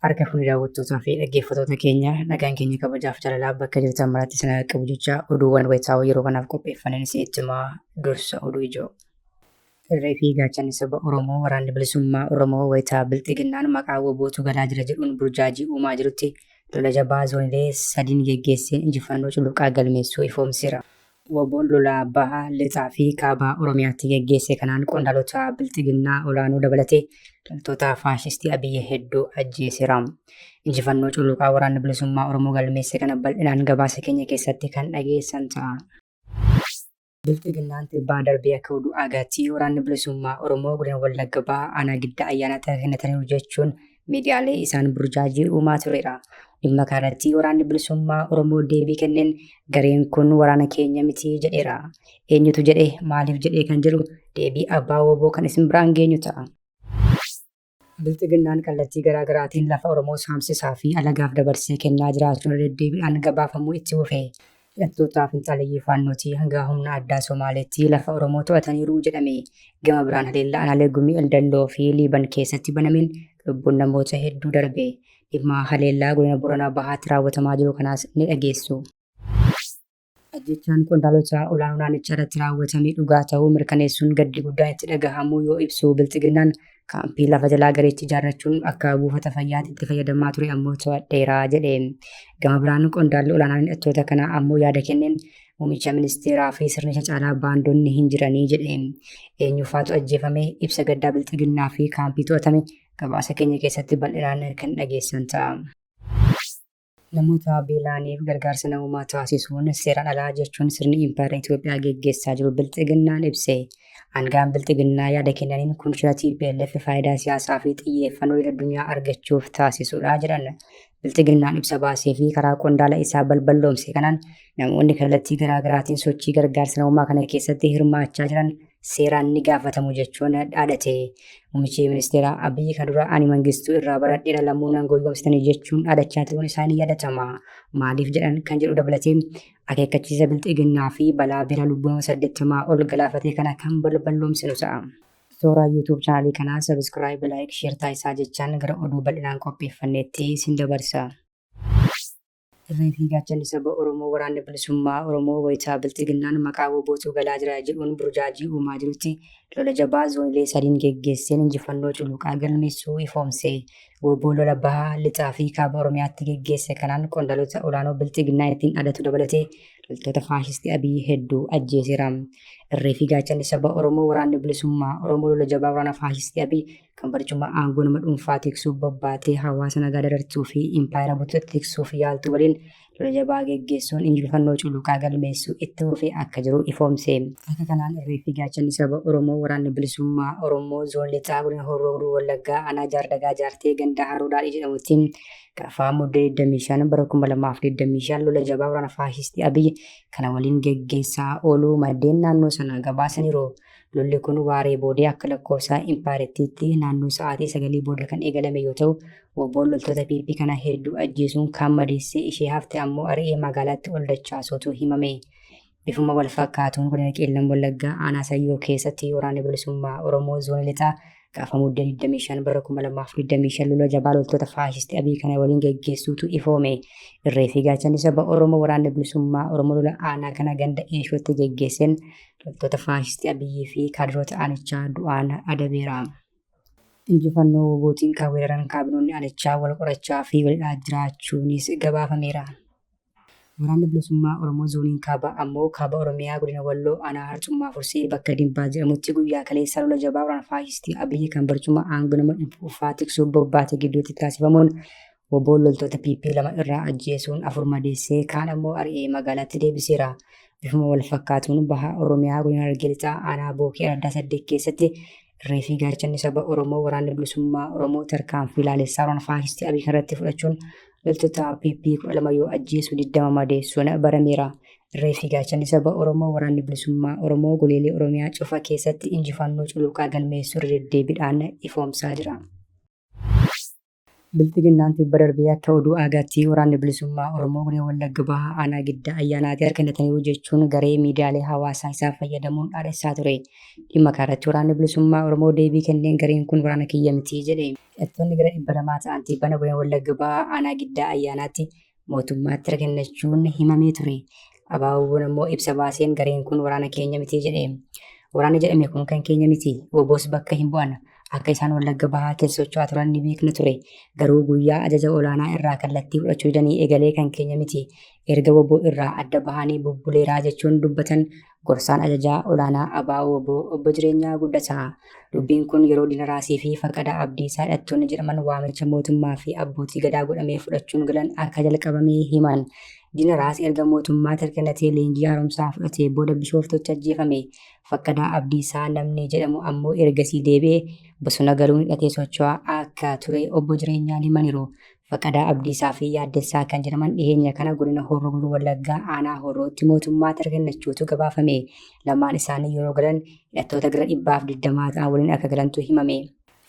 Harka fuunee daawwattootaa fi dhaggeeffattoota keenya nagaan keenya kabajaaf jaalalaa bakka jirtan maratti isin qabu jecha oduuwwan wayitaawoo yeroo kanaaf qopheeffanneen isin itti himaa dursa oduu ijoo. Irree fi gaachanni saba Oromoo waraanni bilisummaa Oromoo wayitaa bilxiginnaan maqaa wabootu galaa jira jedhuun burjaajii uumaa jirutti lola jabaa zoonilee sadiin geggeesseen injifannoo cululuqaa galmeessuu ifoomseera. Wbo'n lola Baha, Lixaa fi Kaaba Oromiyaatti geggeesse kanaan qondaalota Bilxiginnaa olaanoo dabalatee loltoota faashistii Abiyyi hedduu ajjeeseera. Injifannoo cululuqaa waraanni bilisummaa Oromoo galmeesse kana bal'inaan gabaasa keenya keessatti kan dhageessan ta'a. Bilxiginnaan tibbaa darbee akka oduu aagaatti waraanni bilisummaa Oromoo godina Wallagga Bahaa aanaa Giddaa Ayyaanaatti harka kennataniiru jechuun miidiyaalee isaan burjaajii uumaa tureera. Dhimma kanarratti waraanni bilisummaa Oromoo deebii kenneen gareen kun waraana keenya miti jedheera. Eenyutu jedhe maaliif jedhee kan jedhu deebii abbaa wooboo kan isin biraan geenyu ta'a. Bilxiginnaan kallattii garaa garaatiin lafa Oromoo saamsisaa fi alagaaf dabarsee kennaa jiraachuun deddeebiidhaan gabaafamuu itti fufe. Hidhattoota finxaaleyyii Faannootii hangaa humna addaa Somaaleetti lafa Oromoo to'ataniiru jedhame. Gama biraan haleellaa aanaalee Gumii Eldalloo fi Liiban keessatti banameen lubbuun namoota hedduu darbe. Dhimma haleellaa godina Boranaa Bahaatti raawwatamaa jiru kanaas ni dhageessu. Ajjeechaan qondaalota olaanoo naannichaa irratti raawwatame dhugaa ta'uu mirkaneessuun gaddi guddaan itti dhagahamuu yoo ibsu Bilxiginnaan Kaampii lafa jalaa gareechi ijaarrachuun akka buufata fayyaatti itti fayyadamaa ture ammoo to'adheera jedhe. Gama biraan qondaalli olaanaan hidhattoota kanaa ammoo yaada kenneen muummicha ministeeraa fi sirnicha caalaa baandonni hin jiranii jedhe. Eenyufaatu ajjeefame ibsa gaddaa bilxiginnaa fi kaampii to'atame gabaasa keenya keessatti bal'inaan kan dhageessan ta'a. Namoota beela'aniif gargaarsa namoomaa taasisuun seeraan alaa jechuun sirni impaayera Itoophiyaa geggeessaa jiru Bilxiginnaan ibse. Aanga'aan Bilxiginnaa yaada kennaniin kun shira TPLF faayidaa siyaasaa fi xiyyeeffannoo idil-addunyaa argachuuf taasisudha jedhan. Bilxiginnaan ibsa baasee fi karaa qondaala isaa balballoomse kanaan namoonni kallattii garaagaraatiin sochii gargaarsa namoomaa kana keessatti hirmaachaa jiran seeraan ni gaafatamu jechuun dhaadate. Muummichi ministeeraa Abiyyi kan dura ani mangistuu irraa baradheera lammuu nan goyyomsitanii jechuun dhaadachaa turuun isaanii yaadatama. Maaliif jedhan kan jedhu dabalatee akeekkachiisa bilxiginnaa fi balaa beela lubbuu nama saddeettamaa ol galaafatee kana kan balballoomsinu ta'a. Suuraa YouTube chaanalii kanaa sabiskiraayib, laayik, sheer taasisaa jechaan gara oduu bal'inaan qopheeffanneetti isin dabarsa. Irree fi gaachanni saba Oromoo Waraanni Bilisummaa Oromoo wayita Bilxiginnaan maqaa WBOtu galaa jira jedhuun burjaajii uumaa jirutti lola jabaa zoonilee sadiin geggeesseen injifannoo culuqaa galmeessuu ifoomse. Wbo lola Baha, Lixaa fi Kaaba Oromiyaatti geggeesse kanaan qondaalota olaanoo Bilxiginnaa ittiin adatu dabalatee loltoota faashistii Abiy hedduu ajjeeseera. Irree fi gaachanni saba Oromoo Waraanni Bilisummaa Oromoo lola jabaa waraana faashistii Abiy kan barichummaa aangoo nama dhuunfaa tiksuuf bobbaatee hawaasa nagaa darartuu fi impaayera bultoota tiksuuf yaaltu waliin lola jabaa geggeessuun injifannoo culuqaa galmeessuu itti fufee akka jiru ifoomse. Akka kanaan irree fi gaachanni saba Oromoo waraanni bilisummaa Oromoo zoon lixaa godina Horroo Guduruu Wallaggaa aanaa Jaardagaa Jaartee ganda Haroo Daadhii jedhamutti gaafa Mudde 25 bara 2025 lola jabaa waraana faashistii Abiy kana waliin geggeessaa ooluu maddeen naannoo sanaa gabaasaniiru. Lolli kun waaree boodee akka lakkoofsa impaayerattiitti naannoo sa'aatii sagalii booda kan eegalame yoo ta'u, wboon loltoota PP kana hedduu ajjeesuun kaan madeessee ishee hafte ammoo ari'ee magaalaatti ol dachaasuutu himame. Bifuma wal fakkaatuun godina Qeellam Wallaggaa aanaa Sayyoo keessatti waraanni bilisummaa Oromoo zoonii lixaa Gaafa mudde 25 bara 2025 lola jabaa loltoota faashistii Abiy kana waliin geggeessuutu ifoome. Irree fi gaachanni saba Oromoo waraanni bilisummaa Oromoo lola aanaa kana ganda Eeshootti geggeesseen loltoota faashistii Abiyyii fi kaadiroota aanichaa du'aan adabeera. Injifannoo WBOtiin kan weeraran kaabinoonni aanichaa wal qorachaa fi walidhaa jiraachuunis gabaafameera. Waraanni Bilisummaa Oromoo Zooniin Kaabaa ammoo Kaaba Oromiyaa Godina Walloo Aanaa Harcummaa Fursee bakka Dimbaa jedhamutti guyyaa kaleessaa lola jabaa waraana faashistii Abiyyi kan barcuma aangoo nama dhuunfaa tiksuuf bobbaate gidduutti taasifamuun woboon loltoota PP lama irraa ajjeesuun afur madeessee kaan ammoo ari'ee magaalaatti deebiseera. Bifuma wal fakkaatuun baha Oromiyaa Godina Harargee Lixaa Aanaa Bookee Araddaa Saddeet keessatti Dirree fi gaachanni saba Oromoo waraanni bilisummaa Oromoo tarkaanfii laalessaa waraana faashistii Abiy kanarratti fudhachuun loltoota PP 12 yoo ajjeesu 20 madeessuun barameera. Dirree fi gaachanni saba Oromoo waraanni bilisummaa Oromoo goleelee Oromiyaa cufa keessatti injifannoo culuqaa galmeessuu irra deddeebiidhaan ifoomsaa jira. Bilxiginnaan tibba darbee akka oduu aagaatti Waraanni Bilisummaa Oromoo Godina Wallagga Bahaa Aanaa Giddaa Ayyaanaatti harka kennataniiru jechuun garee miidiyaalee hawaasaa isaa fayyadamuun dhaadhessaa ture. Dhimma kanarratti Waraanni Bilisummaa Oromoo deebii kenneen gareen kun waraana kiyya miti jedhe. Hidhattoonni gara 200 ta'an tibbana Godina Wallagga Bahaa Aanaa Giddaa Ayyaanaatti mootummaatti erga kennachuun himamee ture. Abaaboon ammoo ibsa baaseen gareen kun waraana keenya miti jedhe. Waraana jedhame kun kan keenya miti. Oboos bakka hin bu'an. Akka isaan wallagga bahaa keessa socho'aa turan ni beekna ture. Garuu guyyaa ajaja olaanaa irraa kallattii fudhachuu didanii egalee kan keenya miti. Erga waboo irraa adda bahanii bubbuleeraa jechuun dubbatan Gorsaan Ajajaa Olaanaa ABO-wbo Obbo Jireenyaa Guddataa, dubbiin kun yeroo Diina Raasii fi Faqadaa Abdiisaa hidhattoonni jedhaman waamicha mootummaa fi abbootii Gadaa godhamee fudhachuun galan akka jalqabame himan. Diina Raas erga mootummaatti hirkannatee leenjii haaromsaa fudhatee booda Bishooftuutti ajjeefame. Faqadaa Abdiisaa namni jedhamu ammoo ergasii deebi'ee bosona galuun hidhatee socho'aa akka ture Obbo Jireenyaan himaniiru. Faqadaa Abdiisaa fi Yaaddessaa kan jedhaman dhiheenya kana godina Horroo Guduruu Wallaggaa aanaa Horrootti mootummaatti harka kennachuutu gabaafame. Lamaan isaanii yeroo galan hidhattoota gara dhibbaaf digdamaa ta'an waliin akka galantu himame.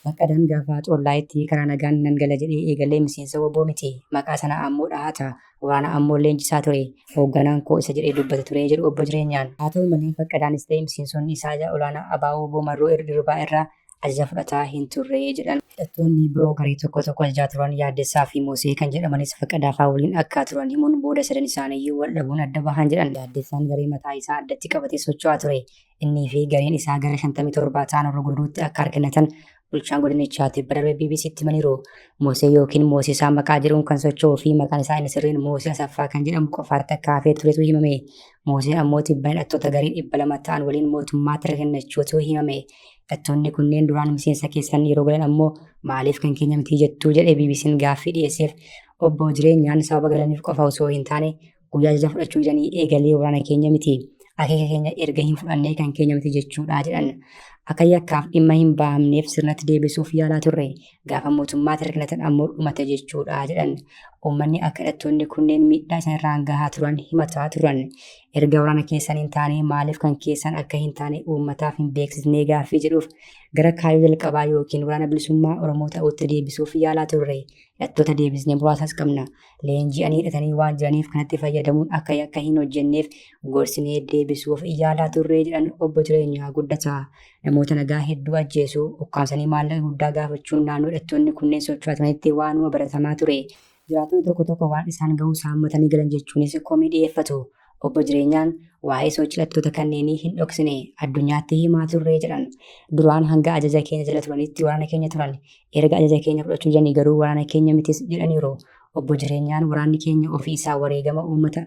Faqadaan gaafa Xollaayitti karaa nagaan nan gala jedhee eegalee miseensa wbo miti. Maqaa sana ammoo dhahata. Waraana ammoo leenjisaa ture. Hoogganaan koo isa jedhee dubbata ture jedhu Obbo Jireenyaan. Haa ta'u malee Faqadaanis ta'e miseensonni isaa ija olaanaa abo-wbo Marroo Dirribaa irraa ajaja fudhataa hin turre jedhan. Hidhattoonni biroo garee tokko tokko ajajaa turan Yaaddessaa fi Mosee kan jedhamanis Faqqadaa faa waliin akka turan himuun booda sadan isaaniiyyuu wal dhabuun adda bahan jedhan. Yaaddessaan garee mataa isaa addatti qabatee socho'aa ture. Innii fi gareen isaa gara 57 ta'an Horroo Guduruutti akka argannatan bulchaan godinichaa tibba darbe BBC'tti himaniiru. Mosee yookiin Moosisaa maqaa jedhuun kan socho'uu fi maqaan isaa inni sirriin Moosee Asaffaa kan jedhamu qofaatti akka hafee turetu himame. Mooseen ammoo tibban hidhattoota garee 200 ta'an waliin mootummaatti argannachuutu himame. Hidhattoonni kunneen duraan miseensa keessan yeroo galan ammoo maaliif kan keenya mitii jettuu jedhee BBC'n gaaffii dhiyeesseef obbo jireenyaan sababa galaniif qofa osoo hin taane guyyaa ajaja fudhachuu jedhanii eegalee waraana keenya miti. Akeeka keenya erga hin fudhannee kan keenya miti jechuudha jedhan. Akka yakkaaf dhimma hin bahamneef sirnatti deebisuuf yaalaa turre. Gaafa mootummaatti rakkatan ammoo dhumate jechuudha jedhan. Uummanni akka hidhattoonni kunneen miidhaa isaan irraan gahaa turan himataa turan. erga waraana keessan hin taane maaliif kan keessan akka hin taane uummataaf hin beeksisnee gaaffii jedhuuf gara kaayyoo jalqabaa yookiin waraana bilisummaa Oromoo ta'utti deebisuuf yaalaa turre. Hidhattoota deebisnee muraasas qabna. Leenji'anii hidhatanii waan jiraniif kanatti fayyadamuun akka yakka hin hojjenneef gorsinee deebisuuf yaalaa turre jedhan obbo Jireenyaa Guddataa. Namoota nagaa hedduu ajjeesuu, ukkaamsanii maallaqa guddaa gaafachuun naannoo hidhattoonni kunneen socho'atanitti waanuma baratamaa ture. Jiraattonni tokko tokko waan isaan gahus haammatanii galan jechuunis komii dhiyeeffatu. Obbo Jireenyaan waa'ee sochii hidhattoota kanneenii hin dhoksine, addunyaatti himaa turre jedhan. Duraan hanga ajaja keenya jala turanitti waraana keenya turan. Erga ajaja keenya fudhachuu didanii garuu waraana keenya mitis jedhaniiru. Obbo Jireenyaan waraanni keenya ofii isaa wareegama uummata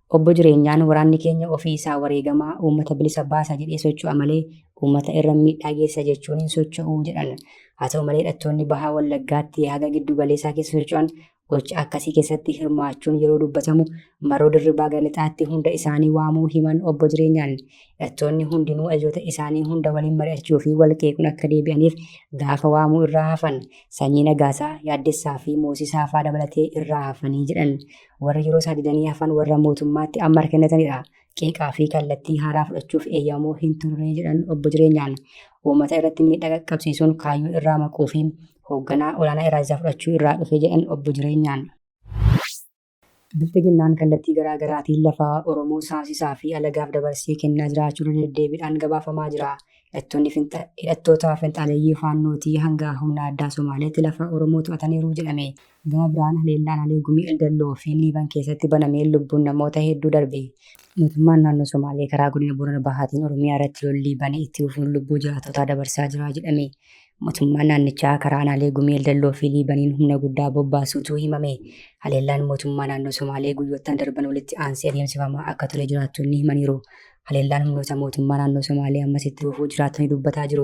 Obbo Jireenyaan waraanni keenya ofii isaa wareegamaa uummata bilisa baasa jedhee socho'a malee uummata irra miidhaa geessa jechuun hin socho'u jedhan. Haa ta'u malee hidhattoonni Bahaa Wallaggaatti haga giddu galeessaa keessa socho'an gocha akkasii keessatti hirmaachuun yeroo dubbatamu maroo dirribaa gara lixaatti hunda isaanii waamuu himan obbo Jireenyaan hidhattoonni hundinuu ajajoota isaanii hunda waliin mari'achuu fi wal qeequun akka deebi'aniif gaafa waamuu irraa hafan sanyii Nagaasaa, Yaaddessaa fi Moosisaa faa dabalatee irraa hafanii jedhan. Warra yeroo isaa didanii hafan warra mootummaatti amma kennatanidha. Qeeqaa fi kallattii haaraa fudhachuuf eeyyamoo hin turre jedhan obbo Jireenyaan. Uummata irratti miidhaa qaqqabsiisuun kaayyoo irraa maquu fi hoogganaa olaanaa irraa isaa fudhachuu irraa dhufe jedhan obbo Jireenyaan. Bilxiginnaan kallattii garaa garaatiin lafaa Oromoo saamsisaa fi alagaaf dabarsee kennaa jiraachuu irra deddeebiidhaan gabaafamaa jira. Hidhattoonni hidhattoota finxaaleeyyii faannootii hanga humna addaa Somaaleetti lafa Oromoo to'ataniiru jedhame. Gama biraan haleellaan Alee Gumii Eldalloo fi Liiban keessatti banameen lubbuun namoota hedduu darbe. Mootummaan naannoo Somaalee karaa godina Boorana Bahaatiin Oromiyaa irratti lollii bane itti fufuun lubbuu jiraattotaa dabarsaa jira jedhame. Mootummaan naannichaa karaa aanaalee Gumii Eldalloo fi Liibaniin humna guddaa bobbaasuutu himame. Haleellaan mootummaa naannoo Somaalee guyyoottan darban walitti aansee adeemsifamaa akka ture jiraattonni himaniiru. Haleellaan humnoota mootummaa naannoo Somaalee ammas itti fufuu jiraatanii dubbataa jiru.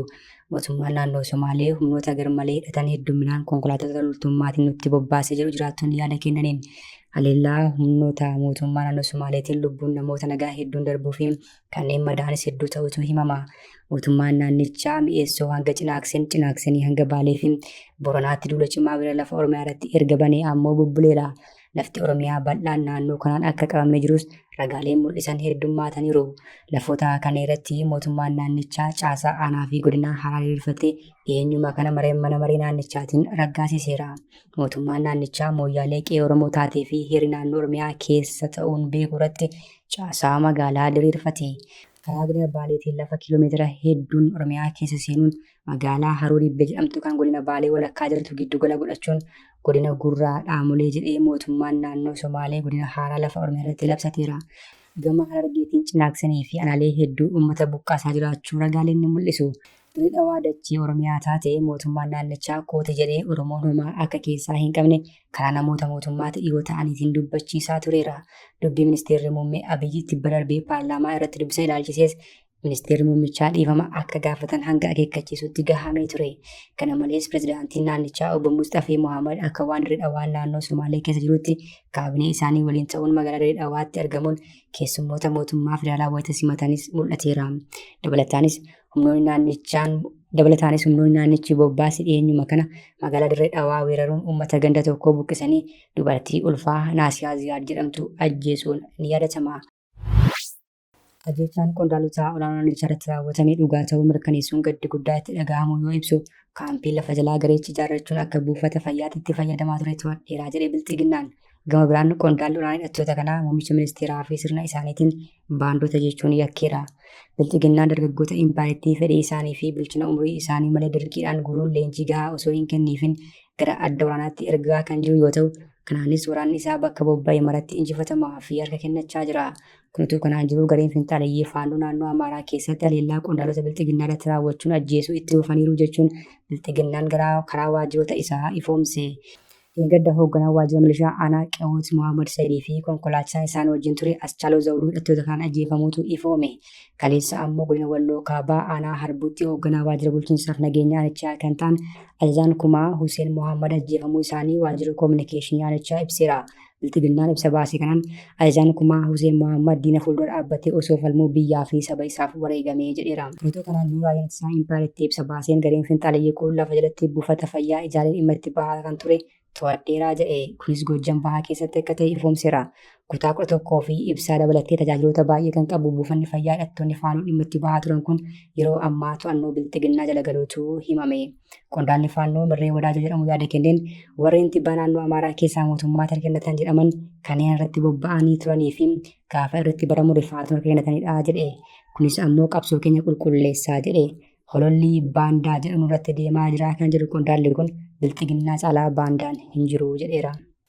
Mootummaan naannoo Somaalee humnoota garmalee hidhatan hedduminaan konkolaattota loltummaatiin nutti bobbaasee jiru jiraattonni yaada kennaniin. Haleellaa humnoota mootummaa naannoo Somaaleetiin lubbuun namoota nagaa hedduun darbuu fi kanneen madaa'anis hedduu ta'utu himama. Mootummaan naannichaa mi'eessoo hanga cinaakseen cinaaksanii hanga baalee fi boranaatti duula cimaa gara lafa Oromiyaa irratti erga banee ammoo bubbuleera. Lafti Oromiyaa bal'aan naannoo kanaan akka qabamee jirus ragaaleen mul'isan heddummaataniiru. Lafoota kana irratti mootummaan naannichaa caasaa aanaa fi godinaa haaraa diriirfatee dhiyeenyuma kana mareen mana maree naannichaatiin raggaasiseera. Mootummaan naannichaa mooyyaalee qe'ee Oromoo taatee fi heerri naannoo Oromiyaa keessa ta'uun beeku irratti caasaa magaalaa diriirfate. Karaa godina Baaleetiin lafa kiiloomeetira hedduun Oromiyaa keessa seenuun Magaalaa Haroo Dibbe jedhamtu kan godina Baalee walakkaa jirtu giddugala godhachuun godina Gurraa Dhaamolee jedhee mootummaan naannoo Somaalee godina haaraa lafa Oromiyaa irratti labsateera. Gama Harargeetiin cinaaksanii fi anaalee hedduu uummata buqqaasaa jiraachuu ragaaleen ni mul'isu. Dirree Dhawaa dachee Oromiyaa taate mootummaan naannichaa koote jedhee Oromoon homaa akka keessaa hin qabne karaa namoota mootummaatti dhiyoo ta'aniitiin dubbachiisaa tureera. Dubbii ministeerri muummee Abiyyi tibba darbee paarlaamaa irratti dubbise ilaalchisees Ministeerri muummichaa dhiifama akka gaafatan hanga akeekkachiisutti gahamee ture. Kana malees pirezidaantiin naannichaa obbo Musxafee Mohaammed akka waan Dirree Dhawaa naannoo Somaalee keessa jirutti kaabinee isaanii waliin ta'uun magaalaa Dirree Dhawaatti argamuun keessummoota mootummaa federaalaa wayita simatanis mul'ateera. Dabalataanis humnoonni naannichaan Dabalataanis humnoonni naannichi bobbaase dhiyeenyuma kana magaalaa Dirree Dhawaa weeraruun uummata ganda tokkoo buqqisanii dubartii ulfaa Naasiyaa Ziyaad jedhamtu ajjeesuun ni yaadatama. Ajjeechaan qondaaltotaa olaanoo naannicharratti raawwatame dhugaa ta'uu mirkaneessuun gaddi guddaa itti dhaga'amuu yoo ibsu, kaampii lafa jalaa gareechi ijaarrachuun akka buufata fayyaatti itti fayyadamaa ture to'adheeraa jedhe Bilxiginnaan. Gama biraan qondaalli olaanaa hidhattoota kanaa muummicha ministeeraa fi sirna isaaniitiin baandota jechuun yakkeera. Bilxiginnaan dargaggoota impaayeettii fedhii isaanii fi bilchina umurii isaanii malee dirqiidhaan guuruun leenjii gahaa osoo hin kenniifin gara adda waraanaatti ergaa kan jiru yoo ta'u, kanaanis waraanni isaa bakka bobba'e maratti injifatamaa fi harka kennachaa jira. Kun utuu kanaan jiruu gareen finxaaleyyii Faannoo naannoo Amaaraa keessatti haleellaa qondaalota Bilxiginnaa irratti raawwachuun ajjeesuu itti fufaniiru jechuun Bilxiginnaan garaa karaa waajjiroota isaa ifoomse. Dheengadda hoogganaan waajjira milishaa aanaa Qewoot Mohaammed Sayidii fi konkolaachisaa isaan wajjin ture Aschaaloo Zawuduu hidhattoota kanaan ajjeefamuutu ifoome. Kaleessa ammoo godina Walloo Kaabaa aanaa Harbuutti hoogganaa waajjira bulchiinsaaf nageenya aanichaa kan ta'an ajajaan kumaa Huseen Mohaammed ajjeefamuu isaanii waajjirri koominikeeshinii aanichaa ibseera. Bilxiginnaan ibsa baasee kanaan ajajaan kumaa Huseen Mohaammed diina fuuldura dhaabbatee osoo falmuu biyyaa fi saba isaaf wareegame jedheera. Twitter kanaan dura raayyaan ittisaa impaayerattii ibsa baaseen gareen finxaaleyyii kun lafa jalatti buufata fayyaa ijaaree dhimma itti bahaa kan ture to'adheera jedhe. Kunis Goojjam Bahaa keessatti akka ta'e ifoomseera. Kutaa 11 fi ibsaa dabalatee tajaajiloota baay'ee kan qabu buufanni fayyaa hidhattoonni Faanoo dhimma itti bahaa turan kun yeroo ammaa to'annoo Bilxiginnaa jala galuutu himame. Qondaalli Faannoo Mirree Wadaajoo jedhamu yaada kenneen warreen tibbaa naannoo Amaaraa keessaa mootummaa harka kennatan jedhaman kanneen irratti bobba'anii turanii fi gaafa irratti baramu rifaatu harka kennatanidha jedhe. Kunis ammoo qabsoo keenya qulqulleessaa jedhe. Hololli baandaa jedhamu irratti deemaa jira kan jedhu qondaalli kun bilxiginnaa caalaa baandaan hin jiru jedheera.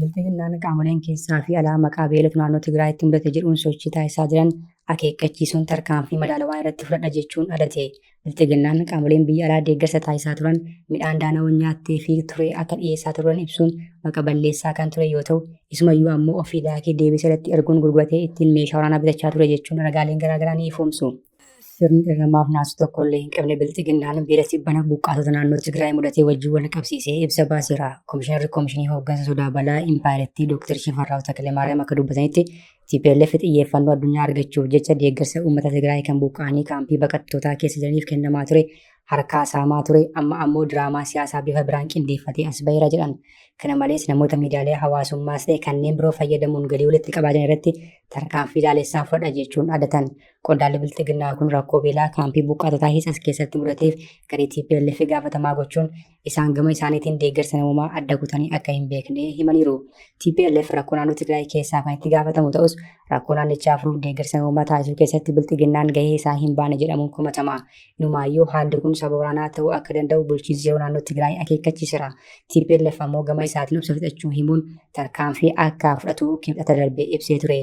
Bilxiginnaan qaamoleen keessaa fi alaa maqaa beelatu naannoo Tigraayitti mudate jedhuun sochii taasisaa jiran akeekkachiisuun tarkaanfii madaalawaa irratti fudhadha jechuun adate. Bilxiginnaan qaamoleen biyya alaa deeggarsa taasisaa turan midhaan daana'uun nyaattee fi ture akka dhiyeessaa turan ibsuun maqa balleessaa kan ture yoo ta'u, isumayyuu ammoo ofii daakee deebisee irratti erguun gurguratee ittiin meeshaa waraanaa bitachaa ture jechuun ragaaleen garaagaraa ni ifoomsu. sirni dirramaaf naasuu tokko illee hin qabne bilxiginnaan beela tibbana buqqaatota naannoo Tigraay mudatee wajjin wal qabsiisee ibsa baaseera. Komishinarri Komishinii Hooggansa Sodaa Balaa Impaayerattii Dr. Shifarraaw Takilemaariyaam akka dubbatanitti TPLF xiyyeeffannoo addunyaa argachuuf jecha deeggarsa uummata Tigraay kan buqqaanii kaampii baqattootaa keessa jiraniif kennamaa ture harkaa saamaa ture amma ammoo diraamaa siyaasaa bifa biraan qindeeffatee as baheera jedhan. Kana malees namoota miidiyaalee hawaasummaas ta'e kanneen biroo fayyadamuun galii walitti qabaa jiran irratti tarkaanfii ilaalessaa fudhadha jechuun adatan. Qondaalli bilxiginnaa kun rakkoo beelaa kaampii buqqaatotaa Hiisas keessatti mudateef garee TPLF gaafatamaa gochuun isaan gama isaaniitiin deeggarsa namoomaa adda kutanii akka hin beekne himaniiru. TPLF rakkoo naannoo Tigraay keessaa kan itti gaafatamu ta'us rakkoo naannichaa furuuf deeggarsa namoomaa taasisuu keessatti bilxiginnaan gahee isaa hin baane jedhamuun komatama. Inumaayyuu haalli kun saba waraanaa ta'uu akka danda'u bulchiinsi yeroo naannoo Tigraay akeekkachiisera. TPLF ammoo gama isaatiin obsa fixachuu himuun tarkaanfii akka fudhatu kibxata darbe ibsee ture.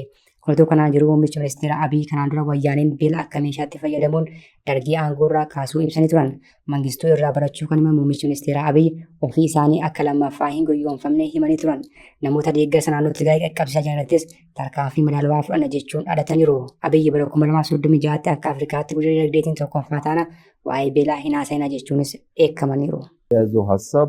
Oduu kanaan jiru muummichi ministeera Abiy kanaan dura wayyaaneen beela akka meeshaatti fayyadamuun dargii aangoorraa kaasuu ibsanii turan. Mangistuu irraa barachuu kan himan muummichi ministeera Abiy ofii isaanii akka lammaffaa hin goyyoomfamne himanii turan. Namoota deeggarsa naannoo Tigraay qaqqabsiisaa jiranittis tarkaanfii madaalawaa fudhanna jechuun dhadataniiru. Abiy bara 2036tti akka Afrikaatti guddina dinagdeetiin tokkoffaa taana waa'ee beelaa hin haasa'ina jechuunis dheekkamaniiru. የያዘው ሀሳብ